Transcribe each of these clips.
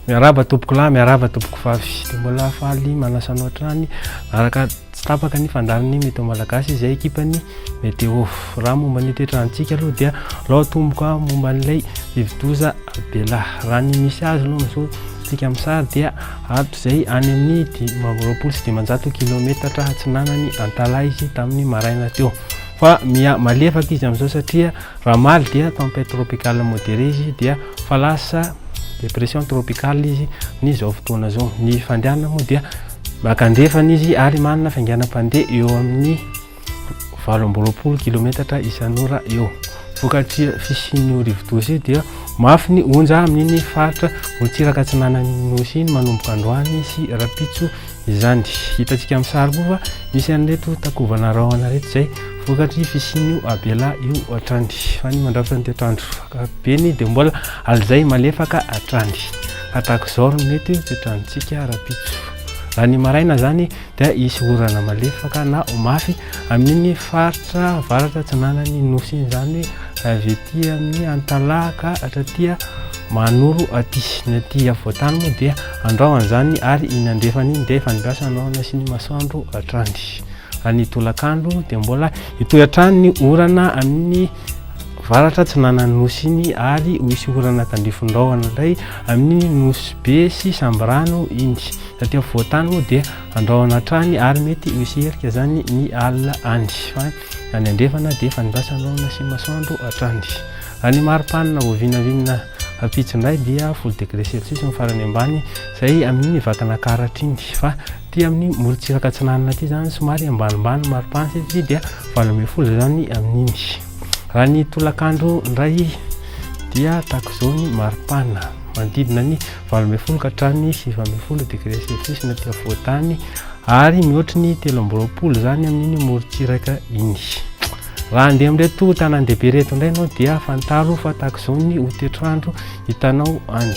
miaraba tompokolahy miaraba tompoko vavy de mbola faly manasanao hatrany araka Tsy tapaka ny fandalin'ny Meteo Malagasy izay ekipan'ny Meteo. Raha momba ny toetrantsika aloha dia lao tomboka momba an'ilay rivodoza Bella. Raha ny misy azy aloha amin'izao tsika amin'ny sary dia ato izay any amin'ny dimy amby roapolo sy dimanjato kilaometatra atsinanan'i Antalaha izy tamin'ny maraina teo. Fa miha malefaka izy amin'izao satria raha maly dia tempête tropicale modérée izy dia fa lasa dépression tropicale izy amin'izao fotoana izao. Ny fandehanana moa dia Maka andrefana izy ary manana fiainganam-pandeha eo amin'ny valo amby roapolo kilometatra isan'ora eo. Vokatry fisian'io rivo-doza io dia mafy ny onja amin'iny faritra motsiraka atsinanan'ny Nosy iny manomboka androany sy rahampitso izany. Hitantsika amin'ny sary koa fa misy an'ireto takovana rahona ireto izay vokatry fisian'io abela io hatrany. Fa ny mandrafitra ny toetr'andro ankapobeny dia mbola alizay malefaka hatrany. Tahaka izao no mety ho toetrantsika ara-pitsy fo. Raha ny maraina izany dia hisy orana malefaka na ho mafy amin'iny faritra avaratra atsinanan'ny nosy iny, izany hoe avy aty amin'ny Antalaha ka hatraty Mahanoro aty. Ny aty afovoan-tany moa dia andrao an'izany ary iny andrefana iny dia efa nidrasa ny rahona sy ny masoandro hatrany. Raha ny tolakandro dia mbola hitohy hatrany ny orana amin'ny Varatra atsinanan'ny nosy iny ary ho hisy orana tandrifin-drahona indray amin'iny nosy be sy sambirano iny. Taty afovoan-tany moa dia andrahona hatrany ary mety ho hisy erika izany ny alina any. Fa any andrefana dia fandraisan-drahona sy masoandro hatrany. Raha ny mari-panina vao vinavinina Ampitso indray dia folo degré celsius ny farany ambany izay amin'iny Vakinankaratra iny fa aty amin'ny morontsiraka atsinanana aty izany somary ambanimbany ny maripana satria dia valo ambin'ny folo izany amin'iny. Raha ny tolakandro indray dia tahaka izao ny maripana manodidina ny valo ambin'ny folo ka hatramin'ny sivy ambin'ny folo degré celsius ny aty afovoan-tany ary mihoatry ny telo amby roapolo izany amin'iny morontsiraka iny. Raha handeha amin'ireto tanàn-dehibe ireto indray ianao dia fantaro fa tahaka izao ny ho toetr'andro hitanao any.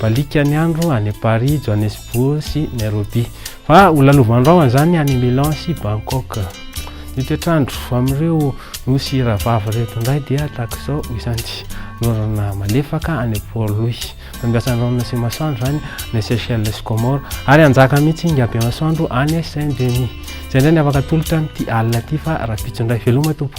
Baliaka ny andro any Paris, Johannesburg sy Nairobi. Fa ho lalovan'ny rahona izany any Milan sy Bangkok. Ny toetr'andro amin'ireo nosy rahavavy ireto indray dia tahaka izao izany. Norana malefaka any Port Louis. Angasandrano sy masoandro izany ny Seychelles sy Comores ary hanjaka mihitsy inga be masoandro any Saint Denis. Izay indray ny afaka atolotra amin'ity alina ity fa rahampitso indray veloma tompo.